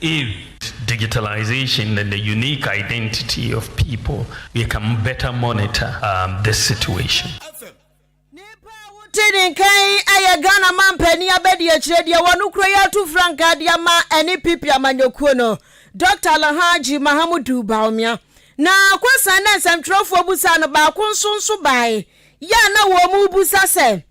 If digitalization and the unique identity of people, we can better monitor this situation. Nipa a wote ne nka yi yɛ Ghana manpanin abadiakyire deɛ wɔn kura yi ato frankaa de ama ɛne PP amanyɔkuo no, Doctor Alhaji Mahamudu Bawumia. Na Akwasan ne nsɛmtwerɛfoɔ busaa no baako nso nso baeɛ a na wɔrebusa sɛ,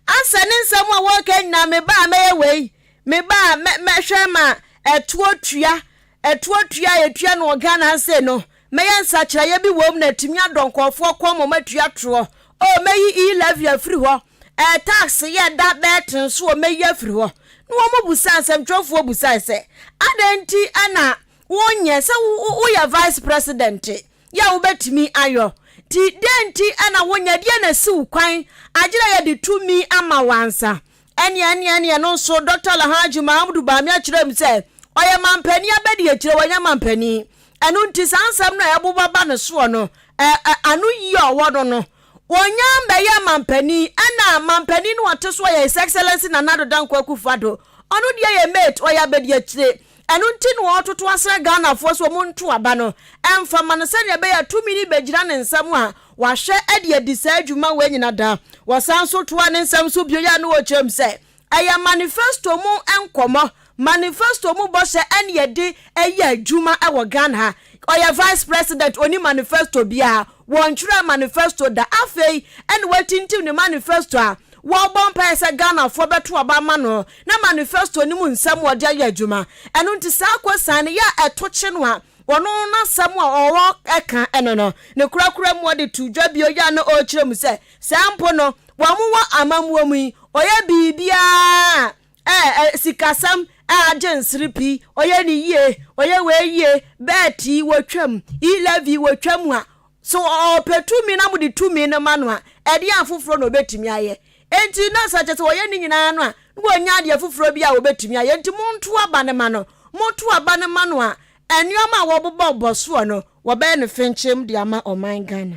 Ansa ne nsɛm a wɔreka nyinaa, me ba a mɛyɛ wei, me ba a mɛhwɛ ma ɛtoɔ tua, ɛtoɔ tua a yɛtua no wɔ Ghana ase no, mɛyɛ nsakyeraeɛ bi wɔ mu na atumi adɔ nkɔɔfoɔ kɔn ma matua toɔ. O, mɛyi e-levy afiri hɔ, ɛɛ tax yɛ da bɛɛ ten so o, mɛyi afiri hɔ. Na wɔn busaa, nsɛmtwerɛfoɔ busae sɛ, adɛn nti na wonyɛ sɛ woyɛ vice president? Deɛ a wobɛtumi ayɔ nti, deɛn nti na wonyɛ? Deɛn na asi wo kwan agye dɛ yɛde tumi ama wo ansa? Ɛneɛ ɛneɛ ɛneɛ ɛno nso Dɔkta Alhaji Mahamudu Bamia kyerɛɛ mu sɛ, ɔyɛ mampanin abɛdiakyire, wanyɛ mampanin. Ɛno nti saa nsɛm no a ɛboba ba ne soɔ no, ɛ, ɛ, ano yie a ɔwɔ no no, wɔnya bɛyɛ mampanin. Ɛna mampanin no a ɔte so a ɔyɛ His Excellency Nana Addo Dankwa Akufo-Addo, ɔno deɛ yɛ mate, ɔyɛ abɛdiakyire. Ɛno nti na ɔretoto asrɛ Ghanafoɔ sɛ wɔnto aba no mfa mma no sɛdeɛ ɛbɛyɛ a tumi no bɛgyina ne nsam a wahwɛ de adi saa dwuma wei nyina da. Wɔsan nso toaa ne nsɛm so bio yɛ a na wɔkyerɛm sɛ ɛyɛ manifesto mu nkɔmmɔ, manifesto mu bɔhyɛ ɛne ɛde ɛyɛ adwuma wɔ Ghana ha. Ɔyɛ vice president, ɔnni manifesto biara, wɔntwerɛɛ manifesto da. Afei na watintim ne manifesto a wɔrebɔ mpaeɛ sɛ Ghanafoɔ bɛto aba ama no na manifesto no mu nsɛm a ɔde ayɛ adwuma. Ɛno nti saa akwasia no yɛ a ɛto kye no a, ɔno n'asɛm a ɔreka no no, ne korakora mu ɔde to dwa bio yɛ a na ɔrekyerɛ mu sɛ sɛ mpo no wɔn wɔ amammuo mu yi, ɔyɛ biribiara a Ɛɛ ɛ sikasɛm ɛ agye nsere pii Ɔyɛ ne yie ɔyɛ wei yie Bɛɛt yi wɔtwam i Lɛvi wɔtwam a So ɔpɛ tumi na mode tumi no ma no a Ɛdeɛn afoforɔ na ɔbɛtumi ayɛ Enti na sɛ kyerɛ sɛ wɔyɛ ne nyinaa no a Na wɔnnya adeɛ foforɔ bi a wɔbɛtumi ayɛ Enti monto aba no ma no Moto aba no ma no a Nnoɔma a wɔbobɔ bɔ soɔ no Wɔbɛyɛ no fenkyem de ama ɔman Ghana.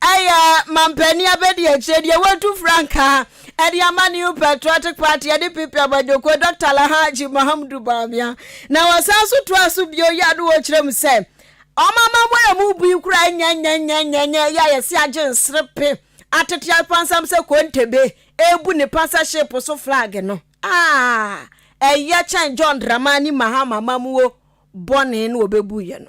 Ɛyɛ a mampanin abɛdiakyire deɛ watu frankaa de ama New Patriotic Party de PP abadwoko Dɔkta Alhaji Mahamudu Bawumia. Na wɔsan so toa so bio yɛ ade wɔ kyerɛ mu sɛ wɔn amammerɛ a ɛmu bui koraa nyɛ nyɛ nyɛ nyɛ nyɛ yɛ a yɛse agye nserepe atete apansam sɛ kontebe rebu ne pasa ship so flag no. Ah! Ɛyɛ kyɛn John Dramani Mahama amammuo bɔne no wɔbɛbuiɛ no.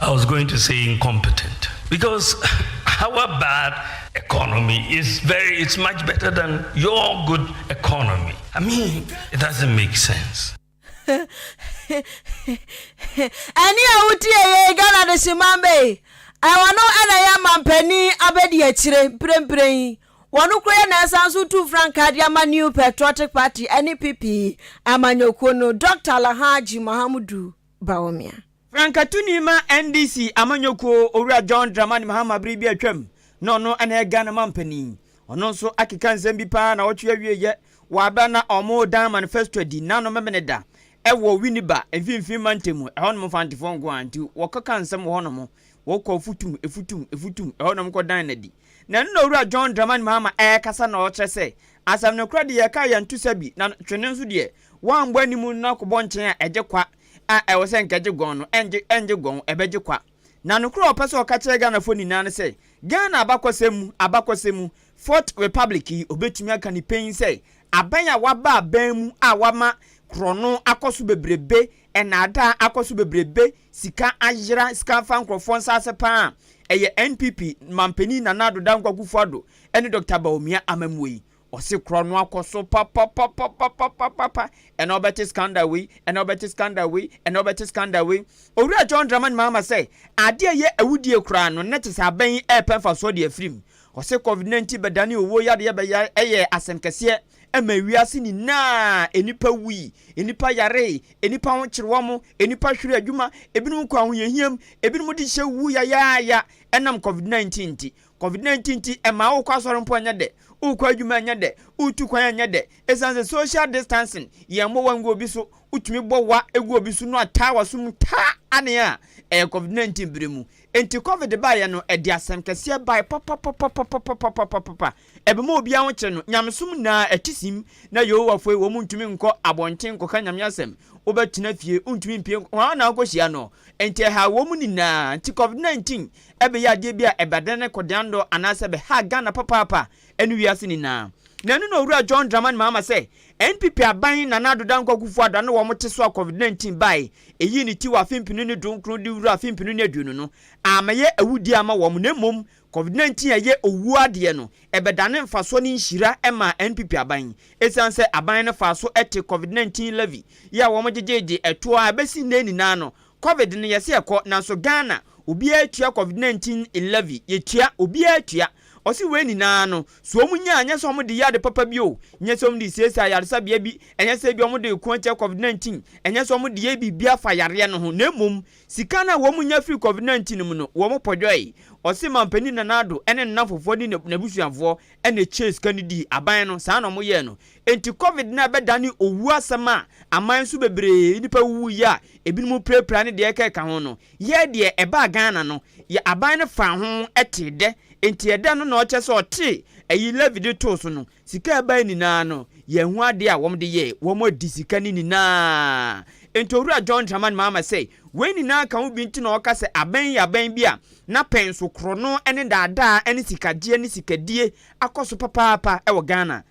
I was going to say incompetent because our bad economy is very, it's much better than your good economy. I mean, it doesn't make sense. ɛne a wotie yɛ ghana de hye man bɛyi ɛwɔ no ɛna yɛ mampanin abɛdi akyire mprempren yi wɔn koro yɛ na ɛsan so tu frankaa de ama new patriotic party ɛne pp amanyɔkuo no dr alhaji mahamudu Bawumia. Frankatuni ma NDC amanyɔkuo Owura John Dramani Mahama bere bi a atwam na ɔno na ɛyɛ Ghana manpanin. Ɔno nso akeka nsɛm bi paa nawɔtwe awieɛ wɔ abɛ na wɔredan manifesto adi n'ano Memeneda wɔ Winneba mfimfini mantam ɛhɔnom Mfantefoɔ nko ara nti wɔkɔka nsɛm wɔ hɔnom wɔkɔ afutum afutum afutum ɛhɔnom kɔdan no adi na ɛno na Owura John Dramani Mahama ɛrekasa na ɔrekyerɛ sɛ asɛm no korɛ deɛ yɛreka yɛnto sa bi na twene nso deɛ Wɔambɔ anim no na kɔbɔ nkyɛn a ɛgye kwa a ɛwɔ sɛ nka ɛgye gɔn no ɛngye ɛngye gɔn ɛbɛgye kwa. Na nokorɛ a ɔpɛ sɛ ɔka kyerɛ Ghanafoɔ nyinaa ne sɛ Ghana abakɔsɛm mu abakɔsɛm mu Fourth Republic yi ɔbɛtumi aka ne panyin sɛ abɛn a waba abɛn mu a wama korɔno akɔ so bebrebe, nnaadaa akɔ so bebrebe, sika ayera, sika afa nkorɔfoɔ nsaase paa a ɛyɛ NPP manpanin Nana Addo Dankwa Akufo-Addo ne Doctor Bawumia amammuo yi Ɔse kura no akɔ so papapapapapapapa ɛnɛ ɔbɛte scandal wei ɛnɛ ɔbɛte scandal wei ɛnɛ ɔbɛte scandal wei Owura John Dramani Mahama sɛ adeɛ a ɛyɛ awudie koraa no nnɛ te sɛ abɛn yi ɛrepɛ mfasoɔ de afirim Ɔse Covid 19 bɛdane owuo yadeɛ bɛya ɛyɛ asɛm kɛseɛ ɛma ewiase nyinaa Nnipa wui, nnipa yaree, nnipa ho kyere wɔn, nnipa hwere adwuma, ebinom kɔ ahohiahiam, ebinom de hyɛ wuo yayaaya ɛnam Covid 19 nti Covid nineteen nti ɛmaa wokɔ asɔre mpo ɛnyɛ dɛ, wokɔ adwuma ɛnyɛ dɛ, wotu kwan ɛnyɛ dɛ. Esiane sɛ social distancing, yɛn bɔ wa ngu obi so, wotumi bɔ wa gu obi so no ataa waso mu taa anee a, ɛyɛ covid nineteen bere mu. Enti covid baeɛ no ɛde asɛm kɛseɛ bae papapapapapapapapapa. Ɛbɛma obiara ho kyere no. Nyamesom nyinaa ɛte sim. Na Yehowafoe wɔn ntumi nkɔ abɔnten nkɔka Nyame asɛm. Wobɛtena fie, wontumi mpue nkɔ, hwan na wokɔhyia no? Enti ɛhaa wɔn nyinaa. Nti covid nineteen ɛbɛyɛ adeɛ bi a ɛbɛdane ne kɔdeandɔ anaasɛ ɛbɛha Ghana papaapa ne wiase nyinaa. Na ɛno na Owura John Dramani Mahama sɛ NPP aban Nana Addo Dankwa Akufo Addo ano wɔn te so a Covid 19 bae ɛyii ne ti wɔ afe mpenu ne du nkron de wura afe mpenu ne aduonu no ammɛyɛ awudie ama wɔn na mmom Covid 19 a ɛyɛ owuo adeɛ no ɛbɛdane mfasoɔ ne nhyira ma NPP aban yi ɛsiane sɛ aban no faa so te Covid 19 levy yi a wɔn gyegyee de ɛtoɔ a ɛbɛsi nnɛ nyinaa no Covid no yɛse ɛkɔ nanso Ghana obiara tua covid 19 levy yɛtua obiara tua ɔse wei nyinaa no so ɔmo nya a nyɛsɛ ɔmo de yɛ ade papa bi o nyɛsɛ ɔmo de siesie ayaresabea bi ɛnyɛsɛ ebia ɔmo de ko atia covid 19 ɛnyɛsɛ ɔmo de yɛ biribi afa yareɛ no ho na mmom sika no a wɔn nya firi covid 19 no mu no wɔn pɔdwɔe ɔse manpanin Nana Addo ɛne ne nnamfofoɔ ne n'abusuafoɔ ɛna ɛtuaa sika no dii aban no saa na ɔmo yɛɛ no Enti Covid no a ɛbɛdane owu asɛm a aman nso bebree nnipa wuwuiɛ a ebinom pirapira ne deɛ ɛkeka ho no, yɛɛ deɛ ɛbaa Ghana no, yɛ aban no faa ho tee dɛ. Enti ɛdɛn no na ɔkyerɛ sɛ ɔtee ayi levy de too so no? Sika a ɛbaeɛ nyinaa no, yɛanhu adeɛ a wɔde yɛɛ. Wɔadi sika no nyinaa. Enti Owura John Dramani Mahama sɛ wei nyinaa ka ho bi nti na ɔka sɛ abɛn yi yɛ abɛn bi a n'apɛnso korɔno ne daadaa ne sikagyeɛ ne sikadie akɔ so papaapa wɔ Ghana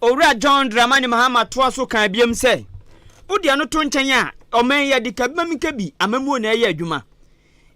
Owura John Dramani Mahama toa so kaa biom sɛ, Wode ɛno to nkyɛn a, ɔman yi adi ka bem ka bi, amammuo na ɛyɛ adwuma.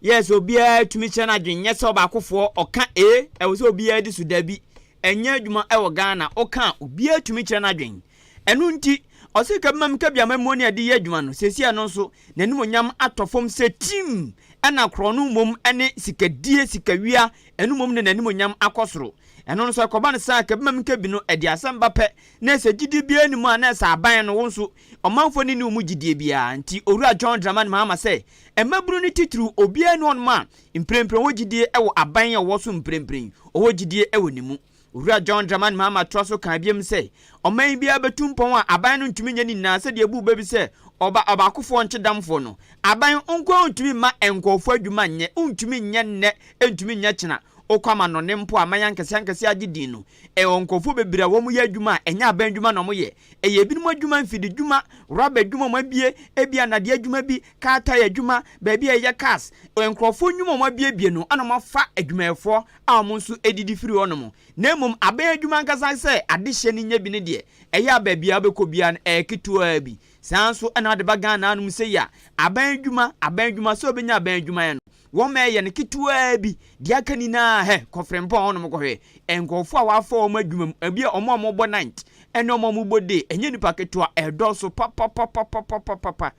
Yes, obiara tumi kyerɛ n'adwene, nyɛ sɛ ɔbaakofoɔ, ɔka ee, ɛwɔ sɛ obiara di so, dabi, ɛnyɛ adwuma wɔ Ghana, woka a, obiara tumi kyerɛ n'adwene. Ɛno nti, ɔse ka bem ka bi amammuo na ɛde yɛ adwuma no, seesei ɛno nso, n'animuonyam atɔ fam sɛ tirim, ɛna korɔno mmom ne sikadie, sikawia, Ɛno mmom ne n'animuonyam akɔ soro. Ɛno no, sɛ ɛkɔba no saa a, kɛbima me nkɛbi no, ɛde asɛm ba pɛ, na sɛ gyidie biara nni mu a, na ɛsɛ aban no, wo nso, ɔmanfoɔ no nni wo mu gyidie biara. Nti Owura John Dramani Mahama sɛ, Mmabunu no titiriw, obiara nni hɔnom a, mprempren ɔwɔ gyidie wɔ aban a ɔwɔ so mprempren, ɔwɔ gyidie wɔ ne mu. Owura John Dramani Mahama toa so kaa biom sɛ, Ɔman biara betu mpɔn a aban no ntumi nyɛ ne nyinaa sɛdeɛ ɛbuu bɛ bi sɛ ɔba ɔbaakofoɔ nkye damfoɔ no. Aban nko ara ntumi mma nkurɔfoɔ adwuma nyɛ, wontumi nyɛ nnɛ, ɛntumi nyɛ kyena. Wokɔ amannɔne mpo a, aman ankɛseɛ ankɛseɛ agye din no, ɛwɔ nkurɔfoɔ bebree a wɔyɛ adwuma a ɛnyɛ aban adwuma na wɔyɛ. Ɛyɛ ebinom adwuma, mfididwuma, rɔba adwuma a wɔabue, ebia nnadeɛ adwuma bi, car tyre adwuma, baabi a yɛyɛ cars, nkurɔfoɔ nnwuma a wɔabuebue no na wɔafa adwumayɛfoɔ a wɔn nso didi firi hɔnom, na mmom abɛn adwuma ankasa sɛ adehyeɛ no nyɛ bi ne deɛ ɛyɛ a baabi a wobɛkɔ biara no ɛyɛ ketewaa bi. Saa ara nso na wode ba Ghana hanom sei a, abɛn adwuma, abɛn adwuma, sɛ wobɛnya abɛn adwuma ayɛ no, wɔma ɛyɛ no ketewaa bi. Deɛ aka nyinaa, hɛ, kɔ Frimpong hɔnom kɔhwɛ nkurɔfoɔ a wɔafa wɔn adwuma mu, ebi a wɔn a wɔbɔ night ne wɔn a wɔbɔ day, ɛnyɛ nnipa ketewa, ɛdɔɔso papapapapapapapa.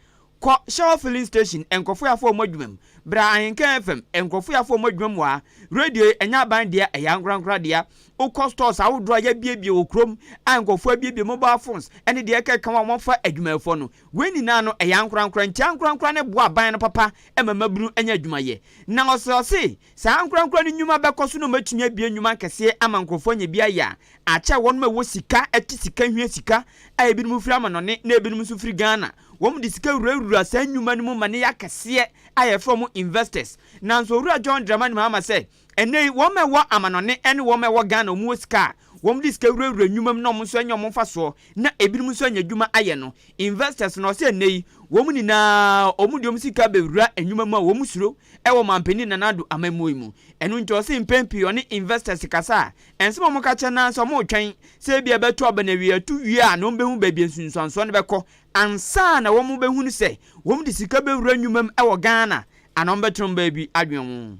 Kɔ Shell filling station nkorɔfoɔ yɛ afoɔ ɔmo adwuma mu, bra Ahenka FM nkorɔfoɔ yɛ afoɔ ɔmo adwuma mu aa, radio yi ɛnyɛ aban dea ɛyɛ ankorankora dea, wo kɔ stores ahodoɔ a y'abiebie wɔ kurom a nkorɔfoɔ abiebie mobile phones ɛne deɛ ɛka ɛka ho a ɔmo afa adwumayɛfoɔ no, wei nyinaa no ɛyɛ ankorankora nti ankorankora no boa aban no papa ɛma mmabunu nya adwuma yɛ na ɔse ɔse Saa ankorankoro no nnwuma bɛkɔ so na wɔatumi abue nnwuma akɛseɛ ama nkurɔfoɔ anya bi ayɛ a akyɛ wɔnom a ɛwɔ sika te sika hia sika a ebinom firi amanɔne na ebinom nso firi Ghana. Wɔnom de sika wurawura saa nnwuma no mu ma no yɛ akɛseɛ a yɛfrɛ wɔn investors. Nanso Owura John Dramani Mahama sɛ ɛnnɛ yi wɔnom a ɛwɔ amanɔne ne wɔnom a ɛwɔ Ghana wɔn wɔ sika a wɔde sika wurawura nnwuma mu na wɔn nso anya wɔn mfasoɔ na ebinom nso anya adwuma ayɛ no, investors, na ɔsɛ ɛnnɛ yi wɔn nyinaa wɔde wɔn sika bɛwura nnwuma mu a wɔn suro wɔ Mampanin Nana Addo amammuo mu. Ɛno nti ɔse mpɛn pii ɔne investors kasa a, ɛnsɛ ma wɔka kyerɛ no ara sɛ wɔretwɛn sɛ ebia ɛbɛto aba na awieɛ ɛto wie a na wɔbɛhu baabi a nsunsuansoɔ no bɛkɔ ansa na wɔbɛhunu sɛ wɔde sika bɛwura nnwuma mu wɔ Ghana anaa wɔbɛtena wɔn baabi adwene ho.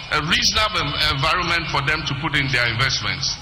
a reasonable environment for them to put in their investments.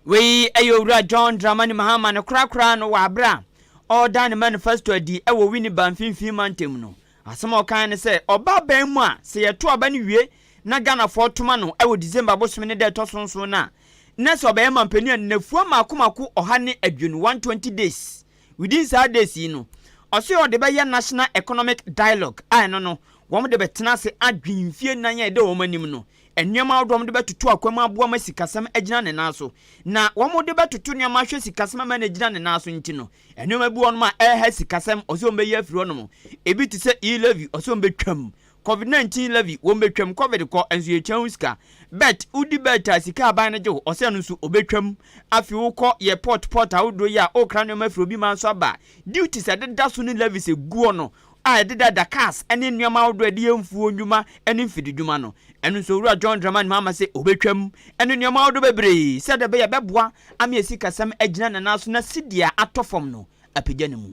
Wei yɛ Owura John Dramani Mahama no korakoraa no wɔ aberɛ a ɔreda ne manifesto adi wɔ Winneba mfinfin mantam no. Asɛm a ɔkaeɛ ne sɛ ɔba aban mu a sɛ yɛto aba no wie na Ghanafoɔ toma no wɔ December bosome ne da ɛtɔ so nson no a na sɛ ɔbɛyɛ mampanin a nnafua mmaako mmaako ɔha ne aduonu, 120 days, Within saa days yi no, ɔse ɔde bɛyɛ National Economic Dialogue a ɛno no wɔn de bɛtena ase adwen mfie nan a ɛda wɔn anim no nneɛma ahodoɔ a wɔde bɛtoto akwan mu aboa ma sikasɛm agyina ne nan so. Na wɔn de bɛtoto nneɛma ahwɛ sikasɛm ama no agyina ne nan so nti no, nneɛma bi wɔ hɔnom a ɛreha sikasɛm ɔse wɔn bɛyi afiri hɔnom. Ebi te sɛ E-levy ɔse wɔn bɛtwam Covid 19 levy wɔn betwam covid kɔ nso yɛtua ho sika bet wodi bet a sika aban no gye wo ɔsɛ no nso obetwam afi wo kɔ yɛ port port ahodoɔ yi a okra nneɛma firi obi man nso aba duties a ɛdeda so ne levies eguɔ no a ɛdeda da cars ne nneɛma ahodoɔ a yɛde yɛ mfuo nnwuma ne mfidi dwuma no ɛno nso owura John Dramani Mahama sɛ obetwam ɛne nneɛma ahodoɔ bebree sɛdeɛ ɛbɛyɛ ɛbɛboa ama yɛ sikasɛm agyina ne nan so na sidi a atɔ fam no apagya ne mu.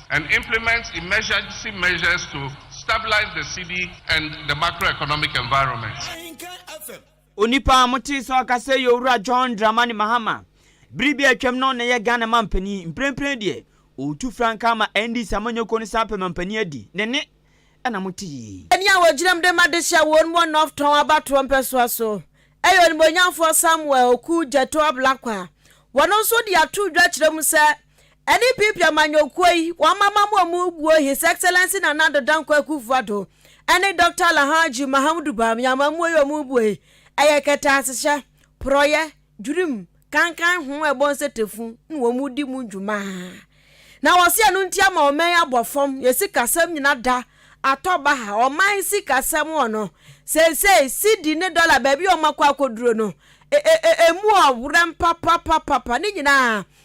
and implement emergency measures to stabilise the cedi and the macroeconomic environment. Onipa a motee sɛ ɔkasa yi yɛ Owura John Dramani Mahama. Bere bi a atwam no na ɛyɛ Ghana manpanin. Mprempren deɛ, ɔretu frankaa ama NDC amanyɔkuo no san apɛ manpanin adi. Ne nne na mote yi. Ɛne a wɔgyinam de ma dehye a wɔn wɔ North Tɔn abatoɔ mpɛsoa so yɛ onimuonyamfoɔ Samuel Oku Gyɛtɔ Ablakwa. Wɔno nso de ato dwa kyerɛ mu sɛ NPP amanyɔkuo yi wɔn mamamu a wɔn buo His Excellency Nana Addo Dankwa Akuffo Addo ɛne Doctor Alhaji Mahamudu Bawumia amamuo yi a wɔn buo yi ɛyɛ kɛtɛasehyɛ, porɔyɛ, dwirim, kankan ho a ɛbɔ nsetefu na wɔn di mu dwuma. Na wɔse ɛno nti ama ɔman yi abɔ fam, yɛn sikasɛm nyina da atɔ baha, ɔman sikasɛm wɔ no seisei cedi ne dɔla baabi a wɔn akɔ akɔduro no e e e emu ɔwerɛm papapapapa ne nyinaa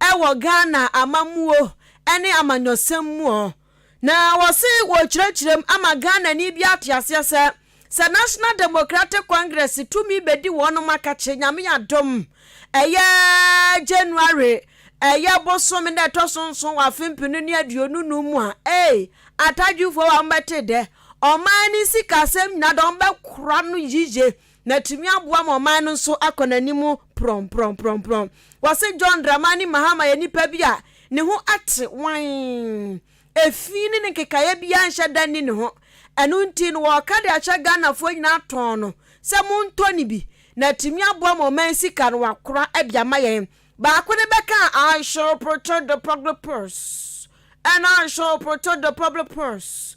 wɔ Ghana amammuo ne amanyɔsɛm mu ɔ, na wɔse wɔrekyerɛkyerɛm ama Ghanani biara ate aseɛ sɛ, sɛ National Democratic Congress tumi bɛdi wɔnom akakye Nyame adom ɛyɛ January ɛyɛ bosome no a ɛtɔ so nson wɔ afe mpenu ne aduonu num mu a, ei, Atadwifoɔ wɔn bɛte dɛ, ɔman ne sikasɛm nyinaa deɛ wɔn bɛkora no yiye na atumi aboa ma ɔman no nso akɔ n'anim prɔmprɔmprɔmprɔm. Wɔse John Dramani Mahama yɛ nipa bi a ne ho ate wann, efi ne ne nkekaeɛ biara nhyɛ da nni ne ho. Ɛno nti no wɔreka de ahyɛ Ghanafoɔ nyinaa tɔnn no sɛ montɔ no bi na atumi aboa ma ɔman sika no wɔakora de ama yɛn. Baako no bɛka a I shall protect the public purse and I shall protect the public purse.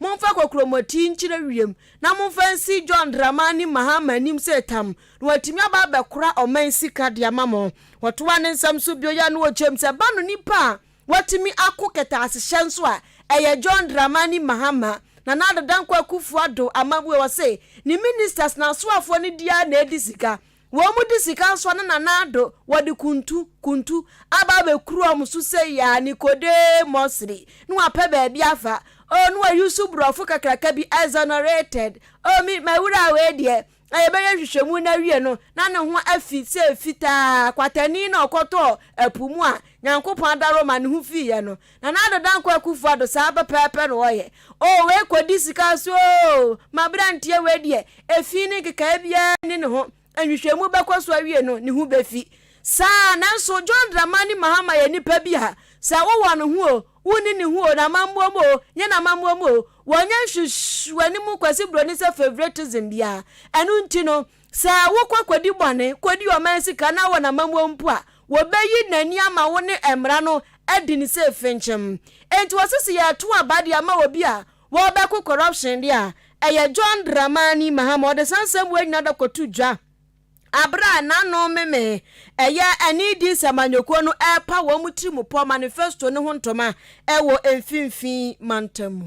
Momfa kokuromoti nkyerɛ wiem na momfa nsi John Dramani Mahama anim sɛ tam, na watumi aba abɛkora ɔman sika de ama mo. Wɔtoaa ne nsɛm so bio yɛɛ no ɔkyɛm sɛ ba no nipa a watumi ako kɛtɛasehyɛ nso a ɛyɛ John Dramani Mahama. Nana Addo Dankwa Akufo-Addo Amabue ɔse ne ministers na asoafoɔ no di ara na edi sika. Wɔde sika nsɔ ne nan ado, wɔde kuntu, kuntu, aba abɛkuru wɔn so sei ara, Nicodemusly, na wɔapɛ baabi afa. Oh, na wɔayi so borɔfo kakraka bi, exonerated. Oh, me, m'awuraa wei deɛ, a yɛbɛyɛ nhwehwɛmu no awie no, na ne ho afi sɛ fitaa, kwatani na ɔkɔtɔɔ ɛpo mu a Nyankopɔn adaworo ma ne ho fiiɛ no. Nana Addo Dankwa Akuffo Addo saa pɛpɛɛpɛ na ɔyɛ oo wei kɔdi sika so oo maberanteɛ wei deɛ ɛfii ne nkekaɛ biara nni ne ho nhwehwɛmu bɛkɔ so awie no ne ho bɛfi saa nanso John Dramani Mahama yɛ nipa bi a sɛ wowɔ ne ho oo wonni ne ho oo namammuo mu oo nyɛ namammuo mu oo wɔnyɛ nhwehwɛne mu Kwasi Broni sɛ favoritism biara ɛno nti no Sɛ wokɔ kodi bɔne, kodi ɔman sika na wɔ n'amammua mu mpo a, wobeyi n'ani ama wo ne mmara no adi no sɛ fenkyem. Enti wɔse sɛ yɛreto aba de ama obi a wɔrebɛko corruption de a, ɛyɛ John Dramani Mahama. Ɔde saa nsɛmmoa yi nyinaa da kɔto dwa bere a n'ano memee, ɛyɛ ɛne DC amanyɔkuo no repa wɔn tirimupɔ manifesto no ho ntoma wɔ Mfinfii Mantam mu.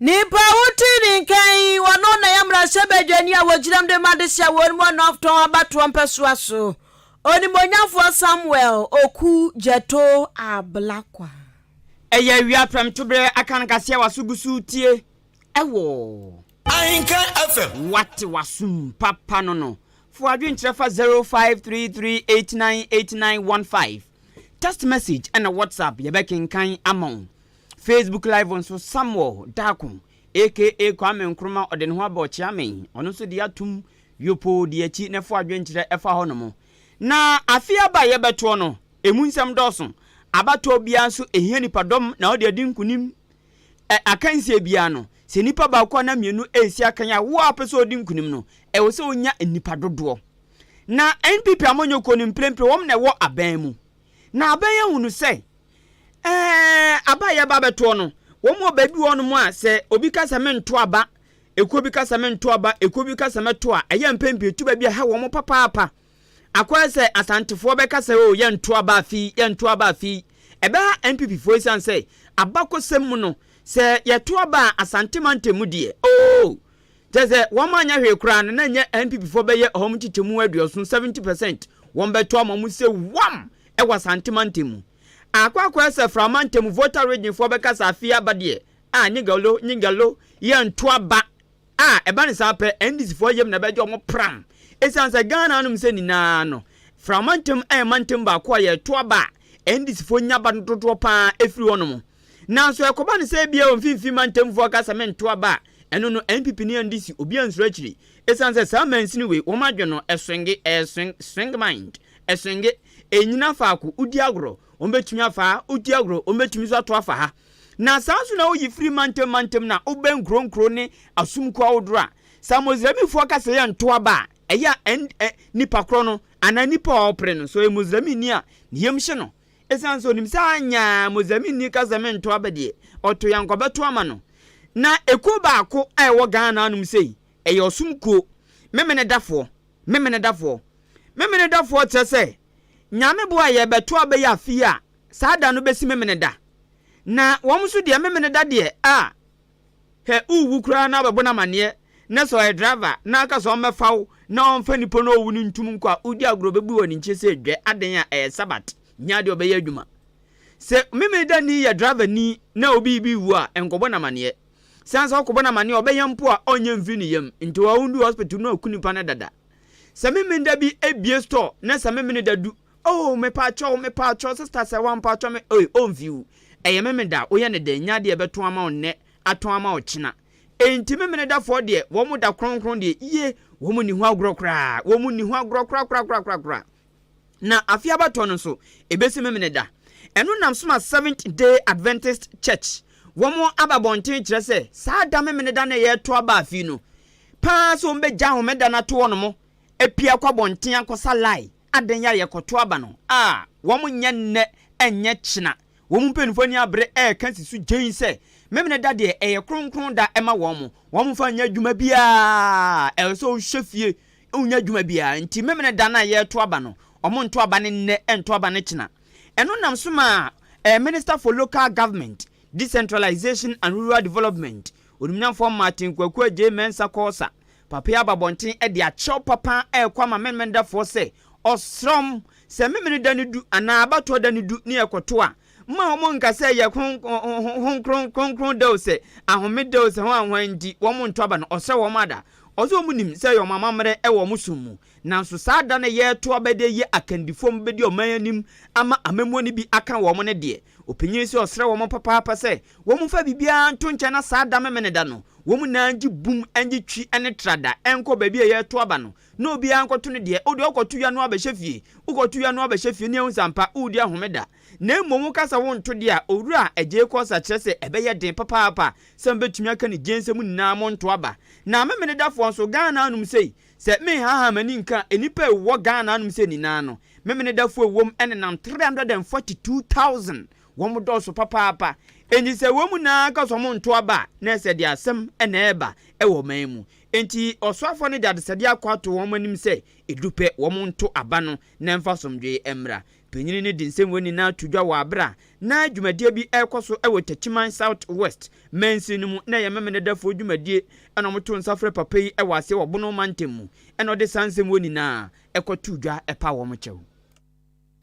Nnipa a wote ne nka yi, wɔnom na ɛyɛ mmarahyɛbadwani a wɔgyinam de ma adehye a wɔnom wɔ North Tɔn abatoɔ mpɛsoa so, Onimonyamfoɔ Samuel Oku Gyɛto Ablakwa. Ɛyɛ awia prɛmtoberɛ, aka no kaseɛ a w'aso gu so retie wɔ. Ahenka FM. Wate w'asom papa no no, fa w'adwenkyerɛ fa 0533898915. Text message ɛna WhatsApp yɛbɛkenkan ama wo. Facebook live nso Samuel Darko aka Kwame Nkrumah ɔde ne ho abɔ ɔkyea me ɔno nso deɛ atom yopoo deɛ akyi na ɛfo adwenkyerɛ ɛfa hɔ nom. Na afe aba a yɛbɛtoɔ no ɛmu nsɛm dɔɔso. Abatoɔ biara nso ɛhia nipadɔm na wode adi nkunim. Ɛ akansie biara no sɛ nnipa baako anaa mmienu ɛresi akan a wo a wopɛ sɛ wodi nkunim no ɛwɔ sɛ wonya nnipa dodoɔ. Na NPP amanyɔkuo no mprempren wɔn na ɛwɔ aban mu. Na aban yi ahunu sɛ eh, aba a yɛreba abɛtoɔ no, wɔn wɔ baabi wɔ hɔnom a sɛ obi ka sɛ mento aba, ekuo bi ka sɛ mento aba, ekuo bi ka sɛ mɛto a, ɛyɛ mpɛn pii etu baabi a ɛha wɔn papaapa. Akɔyɛ sɛ Asantefoɔ bɛka sɛ o yɛnto aba afi yi, yɛnto aba afi yi. Ɛbɛha NPP foɔ esiane sɛ abakɔsɛm mu no, sɛ yɛto aba a Asante mantam mu deɛ, oh! Kyerɛ sɛ wɔn anyɛ hwee koraa no na nyɛ NPP foɔ bɛyɛ wɔn nkyekyɛmu aduɔson, 70 percent, wɔn bɛto ama mu sɛ wam ɛwɔ Asante mantam mu. Akɔ akɔyɛ sɛ Fra mantam Volta Region foɔ bɛka sɛ afei aba deɛ a nyigalo nyigalo yɛ nto aba a ɛba no saa pɛ NDC foɔ yam na ɛbɛgye wɔn pram ɛsiane sɛ Ghana nom sɛ nyinaa no Fra mantam ɛyɛ mantam baako a yɛto aba a NDC foɔ nya aba no dodoɔ paa ɛfiri hɔ nom. Nanso ɛkɔba no sɛ ebia wɔ mfinfin mantamfo akasa me nto aba a, ɛno no NPP ni and DC obi ansuro akyiri. Esiane sɛ saa mansini wei wɔn adwene no ɛswenge, ɛyɛ swing, swing mind, ɛswenge, ɛnnyina faako, wodi agorɔ, wɔn bɛtumi afa ha, wodi agorɔ, wɔn bɛtumi nso ato afa ha. Na saa nso na woyi firi mantam mantam no a wobɛn nkuro nkuro ne asumkuo ahodoɔ a saa Moslemifo akasa yi a nto aba a, ɛyɛ a ɛn, ɛ, nipa korɔ no anaa nipa a ɔrepere no, sɛ ɔyɛ Moslemini a ne yam hye no, Esiane sɛ onim sɛ anyɛ a Mozambikni kasa mu nto aba deɛ, ɔto yɛn nkɔbɛto ama no. Na ekuo baako a ɛwɔ Ghana anom sei, ɛyɛ ɔsom kuo, Memenedafoɔ, Memenedafoɔ. Memenedafoɔ kyerɛ sɛ, Nyame boa a yɛrebɛto aba yi afe yi a, saa da no bɛsi Memeneda. Na wɔn nso deɛ Memeneda deɛ, ah, Hwɛ owu koraa na wɔbɛbɔ no amaneɛ na sɛ ɔyɛ driver na ɔka sɛ ɔmmɛfa wo na ɔmfa nipo na owu no ntom nkɔ a wodi agorɔ bɛbu wɔ ne nkye sɛ dwɛ aden a ɛyɛ sabat nyɛ adeɛ ɔbɛyɛ adwuma sɛ memedani yɛ driver ni na obi bi wu a nkɔbɔ no amaneɛ sane sɛ ɔkɔbɔ no amaneɛ ɔbɛyɛ mpo a ɔnyɛ mfiri ne yam nti ɔwɔ ndu hospital no aku nipa no dada sɛ memeda bi abie store na sɛ memene da du Oh mepaakyɛw mepaakyɛw sister sɛ wampaakyɛw me ei oh mfiw ɛyɛ memeneda woyɛ no dɛn nya deɛ bɛtɔn ama wo nnɛ atɔn ama wo kyena enti memenedafoɔ deɛ wɔn da kronkron deɛ yie wɔn nni ho agorɔ koraa wɔn nni ho agorɔ korakorakorakorakora na afe abatɔ no nso ebesi memeneda ɛno nam so ma seventh day adventist church wɔn aba bɔnten kyerɛ sɛ saa da memeneda na ɛyɛ to aba afi no paa sɛ wɔn bɛgya ahomeda no ato wɔn mo apia kɔ abɔnten akɔsa lie Adɛn a yɛkɔto aba no a wɔnyɛ nnɛ nyɛ kyena? Wɔn mpanyimfo ani abere reka si so gyenn sɛ Memeneda deɛ ɛyɛ kronkron da ma wɔn, wɔmfa nyɛ adwuma biara, ɛsɛ sɛ wohwɛ fie, wonyɛ adwuma biara. Enti Memeneda no a yɛreto aba no, wɔnto aba no nnɛ, nto aba no kyena. Ɛno nam so ma ɛɛ Minister for Local Government, Decentralization and Rural Development, Onimnyamfoɔ Martin Kwaku Adjei Mensah Kɔɔsa Papa yi aba abɔnten de akyerɛw papa rekɔ ama Memenedafoɔ sɛ, Ɔsram, sɛ Memeneda no du anaa abatoɔ da no du ne ɛkɔto a, mma wɔn nka sɛ ɛyɛ kronkron, kronkron da o, sɛ ahome da o, sɛ hwan hwan nti, wɔn nto aba no, ɔsrɛ wɔn ada. Ɔse wɔn nim sɛ ɛyɛ wɔn amammerɛ wɔ wɔn som mu, nanso saa da no a yɛreto aba de ayi akandifoɔ a wɔbɛdi ɔman anim ama amammuo no bi aka wɔn no deɛ, Ɔpanyin nso ɔsrɛ wɔn papaapa sɛ wɔmfa biribiara nto nkyɛn na saa da Memeneda no, wɔn nyinaa ngye bum ngye twi ne trada nkɔ baabi a yɛreto aba no na obiara nkɔto ne deɛ. Wodeɛ wokɔto ya no ara bɛhyɛ fie, wokɔto ya no ara bɛhyɛ fie ne ahu sɛ ampa woredi ahomeda. Na mmom woka sɛ wonto deɛ a, Owura Agyei-Kɔsa kyerɛ sɛ ɛbɛyɛ den papaapa sɛ mobɛtumi aka ne gyensɛm nyinaa monto aba. Na Memenedafoɔ nso, Ghana anom sei, Sɛ me nhaha m'ani nka nnipa a ɛwɔ Ghana anom sɛ ninaa no, Memenedafo a ɛwom ɛnenam 342,000, wɔn dɔɔso papaapa, enti sɛ wɔn nyinaa ka sɛ wɔn nto aba a, na ɛsɛ deɛ asɛm na ɛreba wɔ ɔman yi mu. Enti ɔsoafoɔ no de adesɛdeɛ akɔ ato wɔn anim sɛ ɛdurupɛ wɔn nto aba no na ɛmfa asomdwoeɛ mmra. Panyin no de nsɛm wei nyinaa to dwa wɔ aber a na dwumadie bi rekɔ so wɔ Techiman South West mansin no mu na ɛyɛ Memenedafo dwumadie na wɔto nsa frɛ papa yi wɔ ase wɔ Bono mantam mu na ɔde saa nsɛm wei nyinaa kɔtoo dwa paa wɔn kyɛw.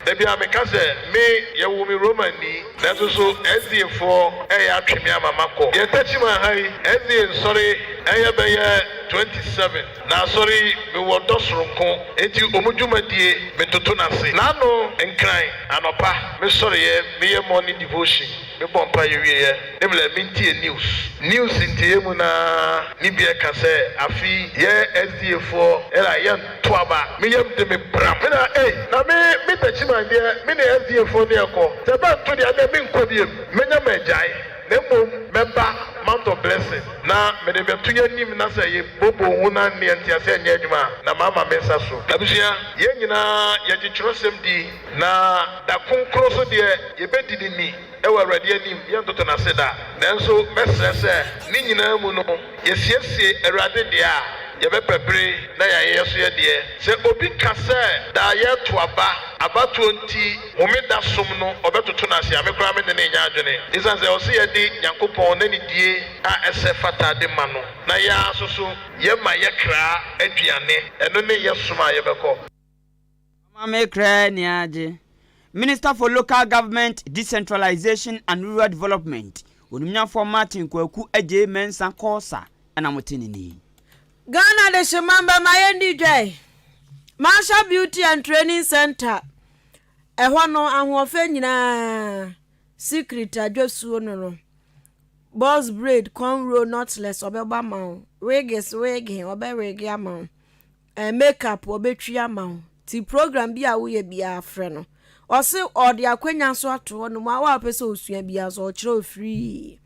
Ebia meka sɛ, Me, yɛwoo me Romanni, nanso so SDAfoɔ reyɛ atwe me ama makɔ deɛ Techiman ha yi SDA nsɔre yɛ bɛyɛ 27. Na asɔre yi, mewɔ dɔ soronko, enti wɔn dwumadie, metoto no ase. Na ano nkran, anɔpa, mesɔreɛ, meyɛ morning devotion, mebɔ mpaeɛ wieɛ, ne mlɛ, mentie news. News ntieyɛ mu no ara ne bi ɛka sɛ, afe yi, yɛ SDA foɔ, ɛra, yɛnto aba. Me yam de me bram. Me na, ei, na me, me Takyiman deɛ, me ne SDA foɔ ne ɛkɔ. Sɛ bɛnto deɛ, ɛnneɛ menkɔ biom. Mɛnya magyae. Na mmom mɛba mount of blessing na mede bɛto yɛn anim na sɛ yɛ bobo ho na nneɛ nteaseɛ nyɛ adwuma a na mama me nsa so. Abusua, yɛn nyinaa yɛgye twerɛsɛm di na da kronkron so deɛ yɛbɛdi ne ni wɔ Awurade anim, yɛntoto no ase da. Nanso mɛsrɛ sɛ ne nyinaa mu no yɛsiesie Awurade deɛ a yɛbɛpɛ bere na yɛayɛ yɛso yɛdeɛ. Sɛ obi ka sɛ daa yɛreto aba, abatoɔ nti, Homeda som no, ɔbɛtoto no ase a me koraa me ne no nnya adwene. Esiane sɛ ɔse yɛde Nyankopɔn n'anidie a ɛsɛ fata de ma no, na yɛn ara nso so yɛma yɛ kra aduane, ɛno ne yɛ som a yɛbɛkɔ. Ɔma me kra ani agye. Minister for Local Government, Decentralization and Rural Development, Onimnyafoɔ Martin Kwaku Agyei Mensah Corser na mote ne ni. Ghana Adehyemma Bɛma Yɛndi Dwae Marshall Beauty and Training Centre Ɛhɔ no ahoɔfɛ nyinaa Secret adwasuo no no Box braid corn roll knotless ɔbɛbɔ ama wo Wigs wege ɔbɛ wege ama wo eh, Make up ɔbɛtwi ama wo Ti program bi a woyɛ biara frɛ no Ɔse ɔde akwanya nso ato hɔ nom a wo a wopɛ sɛ osua biara nso ɔkyerɛ wo free.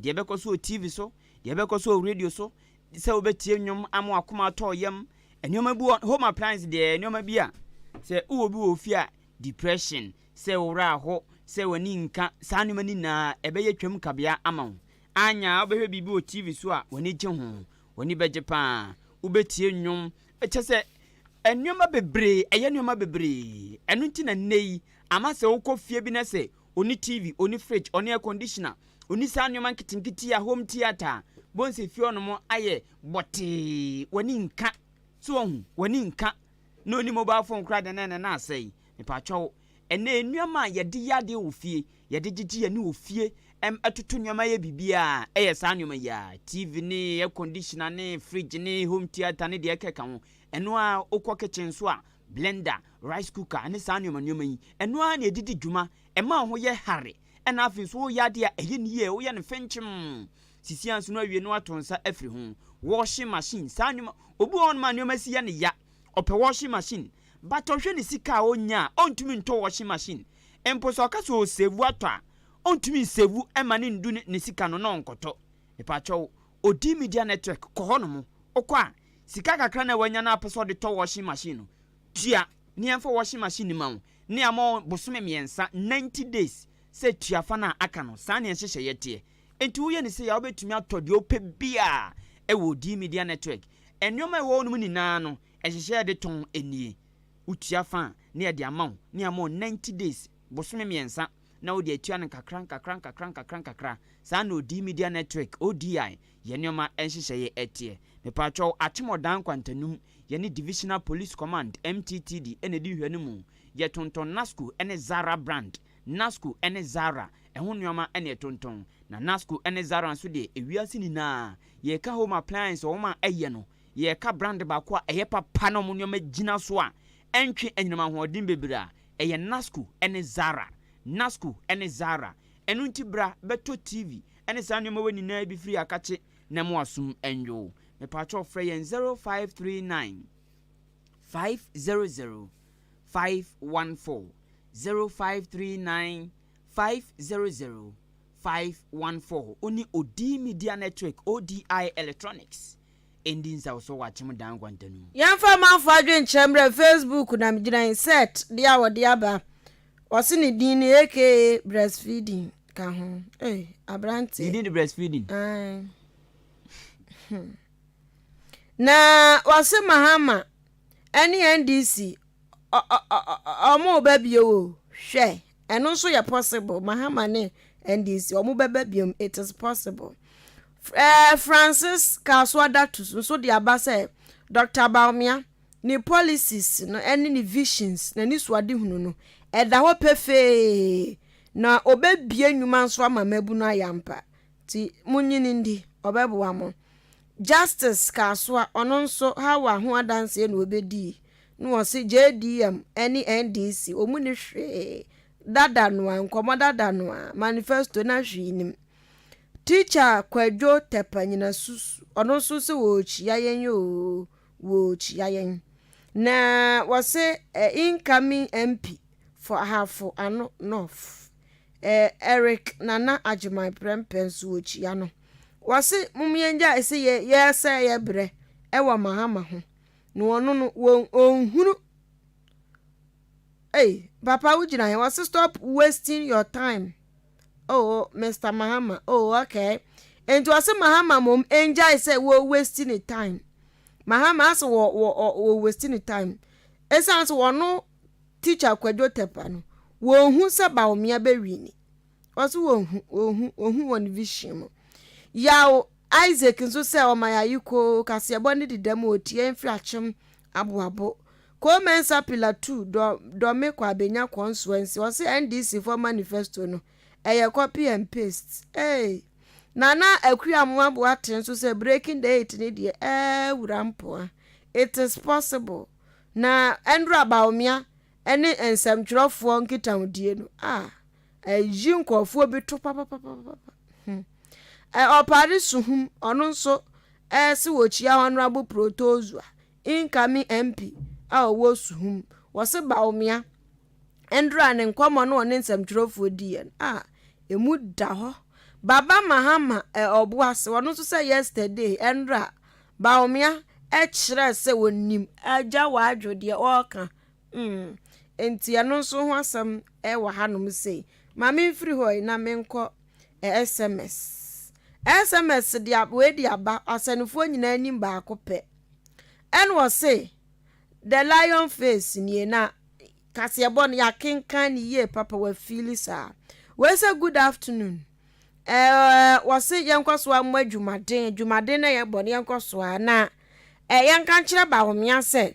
Deɛ ɛbɛkɔ so wɔ TV so, deɛ ɛbɛkɔ so wɔ radio so, sɛ wobɛtie nnwom ama w'akoma atɔ wo yam. Nneɛma bi wɔ hɔ, home appliance deɛ, nneɛma bi a sɛ wowɔ bi wɔ wo fie a, depression, sɛ wo werɛ aho, sɛ w'ani nka, saa nneɛma no nyinaa ɛbɛyɛ twam kabea ama wo. Anya a wobɛhwɛ biribi wɔ TV so a, w'ani gye ho, w'ani bɛgye pa ara. Wobɛtie nnwom, kyerɛ sɛ, nneɛma bebree, ɛyɛ nneɛma bebree. Ɛno nti na nnɛ yi, ama sɛ wokɔ fie bi na sɛ Onni TV, onni fridge, onni air conditioner, onni saa nneɛma nketenkete yi a home theatre a bohu sɛ fie hɔnom ayɛ bɔtee, w'ani nka. So wahu? W'ani nka. Na onni mobile phone koraa deɛ na ɛnɛ na asɛe. Mepaatwa wo. Ɛnɛ nneɛma a yɛde yɛ adeɛ wɔ fie, yɛde gyegye yɛn ani wɔ fie, ɛm, ɛtoto nneɛma yɛ biribiara a, ɛyɛ saa nneɛma yi ara, TV ne air conditioner ne fridge ne home theatre ne deɛ ɛkeka ho. Ɛno ara, wokɔ kitchen nso a, blender, rice cooker ne saa nneɛma nneɛma yi, ɛno ara na ɛde di dwuma, ɛma wo ho yɛ hare, ɛna afei nso woreyɛ adeɛ a ɛyɛ no yie a woyɛ no fenkyem, sisi anso no awie na wato nsa afiri ho. Washing machine, saa nneɛma, obi wɔ hɔnom a nneɛma si yɛ no ya, ɔpɛ washing machine, but ɔhwɛ ne sika a ɔnnya a, ɔntumi ntɔ washing machine, mpo sɛ ɔka sɛ ɔresave atɔ a, ɔntumi nsave mma no ndu ne sika no na ɔnkɔtɔ. Mepakyɛw, Ɔdi media network kɔ hɔnom. Ɔkɔ a, sika kakra no a wanya no a ɔpɛ sɛ ɔde tɔ washing machine no, tua ne yɛmfa washing machine no mma wo, na yɛama wo bosome mmiɛnsa, ninety days, sɛ tua fa no a aka no. Saa ne yɛn nhyehyɛeɛ teɛ. Enti woyɛ no sei a, wobɛtumi atɔ deɛ wopɛ biara wɔ Ɔdi media network. Nneɛma a ɛwɔ hɔnom nyinaa no, nhyehyɛeɛ a yɛde tɔn nie. Wotua fa a, na yɛde ama wo, na yɛama wo ninety days, bosome mmiɛnsa, na ɔde atua no nkakra nkakra nkakra nkakra nkakra, saa ara na Odii Media Network, ODI, yɛn nneɛma nhyehyɛeɛ teɛ. Mepaatwɔw, Akyemɔdan Nkwantanum, yɛne Divisional Police Command, MTTD, na ɛdi nhwɛ no mu. Yɛtontɔn Nasco ne Zara brand, Nasco ne Zara, ɛho nneɛma na yɛtontɔn. Na Nasco ne Zara nso deɛ, ewiase nyinaa, yɛka home appliance, wɔn a ɛyɛ no, yɛka brand baako a ɛyɛ papa na wɔn nneɛma gyina so a ɛntwe anyinam ahoɔden bebree a, Ɛyɛ Nasku ne Zara. Nasku ne Zara. Ɛno nti bra bɛtɔ TV ne saa nnoɔma wei nyinaa bi firi ha kakye na mo asom nnwoo. Mepaakyɛw frɛ yɛn 0539 500 514, 0539 500 514. Wone Odii Media Network, ODI Electronics, Ɛndi nsaw so wakyem dan nkwanta no mu. Yɛmfa amanfoɔ adwenkyerɛ mmerɛ Facebook na megyina insert deɛ a wɔde aba wɔse ne din ne aka breastfeeding ka ho ei abranteɛ. Ne din de breastfeeding. Ae hmm na wɔse Mahama ɛne NDC ɔ ɔ ɔ ɔ ɔmo reba bio o hwɛ. Ɛno nso yɛ possible. Mahama ne NDC wɔn bɛba biom. It is possible. Ɛɛ Francis Kasoa Datus nso de aba sɛ Dr. Bawumia ne policies no ɛne ne visions na ne suadehunu no ɛda hɔ pefee na ɔbɛbie nnwuma nso ama mmabunu ayɛ ampa. Ti mo nyini ndi ɔbɛboa mo. Justice Kasoa ɔno nso Hawa ho adanseɛ na ɔbɛdii. Na wɔse JDM ɛne NDC wɔn mu ni hwee dada noa nkɔmɔ dada noa manifesto na hwee nim teacher kwadwo tɛpɛ nyina susu ɔno nso se wɔrekyia yɛn yoo wɔrekyia yɛn na wɔse eh, incoming MP for ahafo ano north eh, Eric Nana Agyeman prɛmpɛ nso wɔkyia no wɔse mom yɛngya ɛse yɛ yɛsɛ yɛ brɛ ɛwɔ mahama ho na wɔno no wɔn ɔnhunu ei papa wogyina he wɔse stop wasting your time oh, oh mr mahama oh okay nti wɔse mahama mom ɛngyae sɛ wɔ waste ne time mahama asɛ wɔ wɔ wɔ waste ne time ɛsiane sɛ wɔno teacher kwadwo tɛpa no wɔhu sɛ baomea bɛwi ni ɔse wɔhu wɔhu wɔhu wɔn vision mu yaw isaac nso sɛ ɔma yɛaye koo kaseɛbɔ ne deda mu ɔtie mfiri akyem aboabo koo mɛnsa pila 2 dɔ dɔme kɔ abɛnya kɔ nsoa nsi ɔse ndc fɔ manifesto no ɛyɛ copy and paste hey. nana akuri amoa boa te nso sɛ breaking the eight ne deɛ ɛɛ wura mpoa it is possible na ɛndora baomea ɛne nsɛmtwerɛfoɔ nkitahodie no ah. Ayi nkurɔfoɔ bi to papapapapa. Hmm. Ɛ ɔpare suhum, ɔno nso ɛɛse wɔkyia Honorable Protozoa, incoming MP a ɔwɔ suhum. Wɔse Bawumia ndra ne nkɔmmɔ no ɔne nsɛmtwerɛfoɔ diiɛ no, ah, ɛmu da hɔ. Baba Mahama ɛ ɔboase, ɔno nso sɛ yesterday ɛndra Bawumia ɛkyerɛɛ sɛ ɔnim. Agya Wadwo deɛ ɔɔka Mm, enti ɛno nso ho asɛm wɔ hanom sei. Ma memfiri hɔ yi na menkɔ SMS. SMS de wei de aba asɛnefoɔ nyinaa anim baako pɛ. Ɛna ɔse, The Lion Face nie na kaseɛbɔ no yɛakenkan ne yie papa wafiili saa. Wei sɛ good afternoon. Eh, wɔse yɛnkɔ so ammɔ adwumaden, adwumaden na yɛbɔ no yɛnkɔ so a na eh, yɛnka nkyerɛ Bawomea sɛ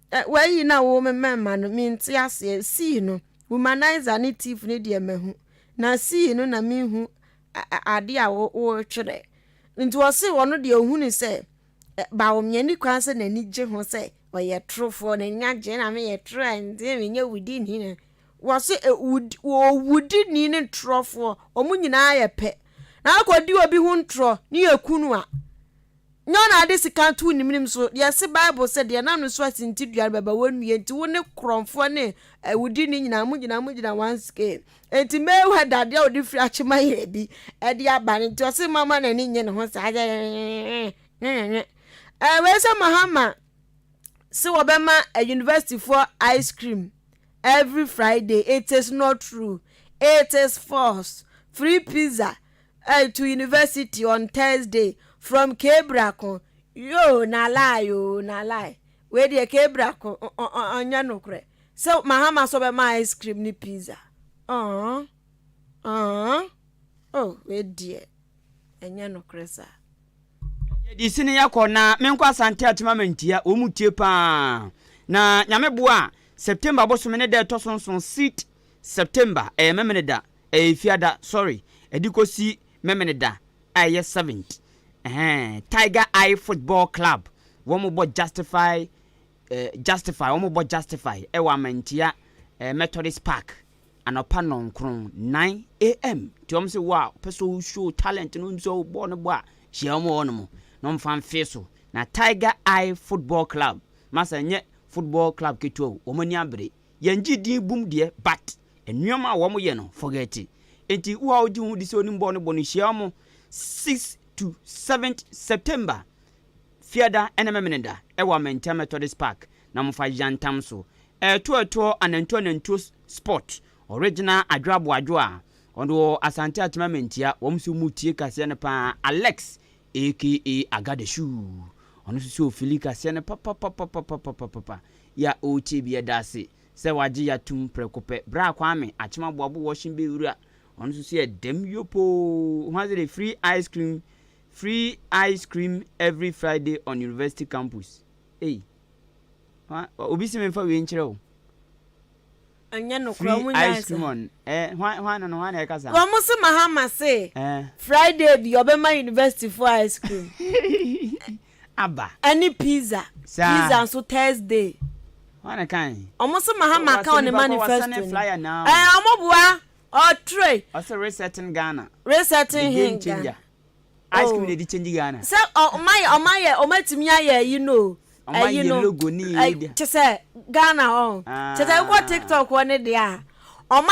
Ɛ, w'ayi na wo mmɛmma no, mente aseɛ, sii no, womanizer ne thief no deɛ mahu, na sii no na menhu adeɛ a woretwerɛ. Nti ɔse ɔno deɛ ohunu sɛ, Baom, yɛnni kwan sɛ n'ani gye ho sɛ ɔyɛ torofoɔ, n'ani agye na meyɛ toro a, nti menyɛ wudini na. Wɔse ɛ, wud, wudini ne torofoɔ, wɔn nyinaa yɛ pɛ. Na akɔdi obi ho ntorɔ ne yɛku no a, Nyɛ ɔna de sika to wo nimnim so, deɛ ɛse Bible sɛ, deɛ n'ano su asintidua no bɛba w'anwuie, enti wo ne korɔmfoɔ ne awudini nyinaa mogyina mogyina one scale. Enti Mayweather deɛ a ɔde firi akyema yere bi de aba no nti ɔse mama n'ani nye ne ho saa nwenwenwe. Ɛɛ wei sɛ Mahama se wɔbɛma university foɔ ice cream every Friday, it is not true, it is false, free pizza, Ey to university on Thursday from K-brako yoo na lie oo na lie wei deɛ K-brako ɔnyɛ nokorɛ sɛ Mahama sɛ ɔbɛma ice cream ne pizza ɔɔh ɔɔh oh wei deɛ ɛnyɛ nokorɛ saa. Yɛdi sini yakɔ na menkɔ asante atema mantia wɔn mu tie paa na nyame boa a September bosome ne da ɛtɔ so nson seat September ɛyɛ memeneda Ɛyɛ Efiada, sorry, ɛde kɔsi Memeneda a ɛyɛ seventh, ɛhɛn, Tiger Eye Football Club, wɔn bɔ Justify, eh, Justify, wɔn bɔ Justify ɛwɔ Amantia, eh, Methodist Park, anɔpa nnɔnkron, nine AM, nti wɔn se wo a, wopɛ sɛ wo show talent no, nso wo bɔɔ no bɔ a, hyia wɔn wɔ hɔnom, na wɔn fa mfee so, na Tiger Eye Football Club, masa nyɛ football club ketewa o, wɔn ani abere. Yɛn ngye din bum deɛ but nnoɔma a wɔn yɛ no forget nti wo a wo gye ho di sɛ onim bɔɔl no bɔ no hyia wɔn sixth to seventh September Fiada ne Memeneda ɛwɔ Amantam Methodist Park na mo fa yantam so ɛɛto ɛtoɔ anantuo anantuo sport original adwoa boadwoa ɔno wɔ Asante Atema Mantia wɔn nso mo tie kaseɛ no paa Alex Aka Agadeshu, ɔno nso sɛ ɔfili kaseɛ no papapapapapapapa, yɛ a ɔrekyɛ biara da ase sɛ wagye yɛ atom prɛko pɛ. Bra Kwame, Akyem Aboabo Washing Bay wura, ɔno nso sɛ dɛm yopoo, ɔhu adze dɛ free ice cream, free ice cream every Friday on university campus. Ei, obi se memfa wei nkyerɛ wo. Ɛnyɛ nokorɛ wɔn nyinaa yɛ saa. Wɔn se Mahama se Friday bi ɔbɛma university foɔ ice cream ɛne pizza, pizza nso Thursday. Wɔn se Mahama ka wɔ ne manifesto no ɛɛ wɔn boa ɔtire. Resetting he Ghana. Ice cream na ɛdi change Ghana. Sɛ ɔmo ayɛ ɔmo ayɛ ɔmo atumi ayɛ ɛyi no o. Ɔmo ayɛ ɛyi no logo ne yɛ ɛyi de. kyesɛ Ghana hɔ. Kyesɛ wokɔ tiktok hɔ ne deɛ a ɔmo ayɛ.